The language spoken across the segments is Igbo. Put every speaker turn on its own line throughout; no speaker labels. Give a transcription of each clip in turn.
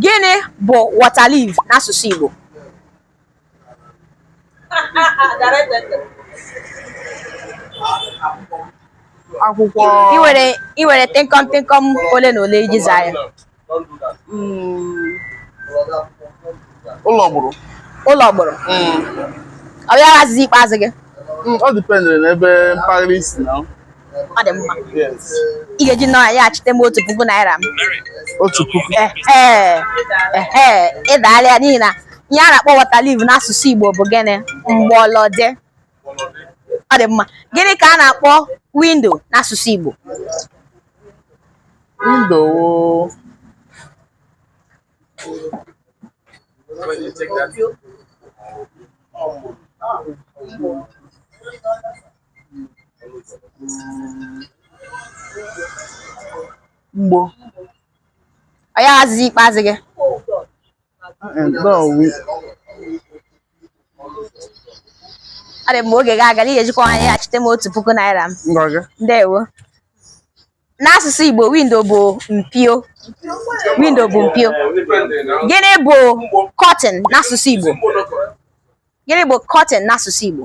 Gịnị bụ water leaf n'asụsụ
Igbo? akwụkwọ
I nwere tịnkọm tịnkọm ole na ole iji zaa ya.
Mm, ụlọ gburu Ụlọ gbụrụ.
Ọ bụ ya azịza ikpeazụ gị. ọ dịpendịrị
n'ebe mpaghara i si na ọ
dị mma
ị ga-eji nwayọ
nyeghachite m otu puku naira m otu puku ị daala ya n'ihi na ihe a na-akpọ water leaf n'asụsụ Igbo bụ gịnị mgbọlọdị ọ dị mma gịnị ka a na-akpọ window n'asụsụ
Igbo window
mgbo ọ ya azịza ikpeazụ gị ọ dị mma oge gị agaala ị ga-ejikwa ha nyeghachite m otu puku naira m ndewo n'asụsụ Igbo window bụ mpio window bụ mpio gịnị bụ curtain n'asụsụ Igbo gịnị bụ curtain n'asụsụ Igbo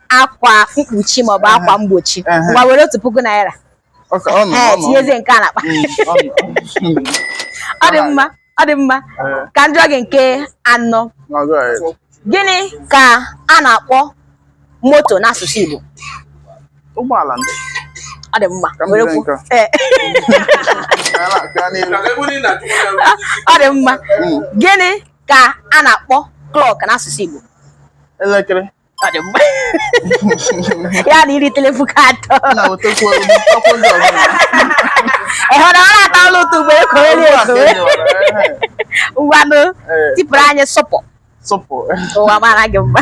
akwa mkpuchi maọbụ akwa mgbochi ngwa were otu puku naira ee tinyezie nke a n'akpa mm, ọ dị mma ọ dị mma ka m jụọ gị nke anọ gịnị ka a na-akpọ moto n'asụsụ
Igbo ụgbọala
ndị ọ dị mma werekwuo ee ọ dị mma gịnị ka a na-akpọ clock n'asụsụ Igbo elekere ya na iri telepuku atọ ịhụrụ ọrụ atọ ọrụ ụtọ ugboro ekowere ekowe ngwanụ tipụrụ anyị sụpụ sụpụ ụwa mara gị mma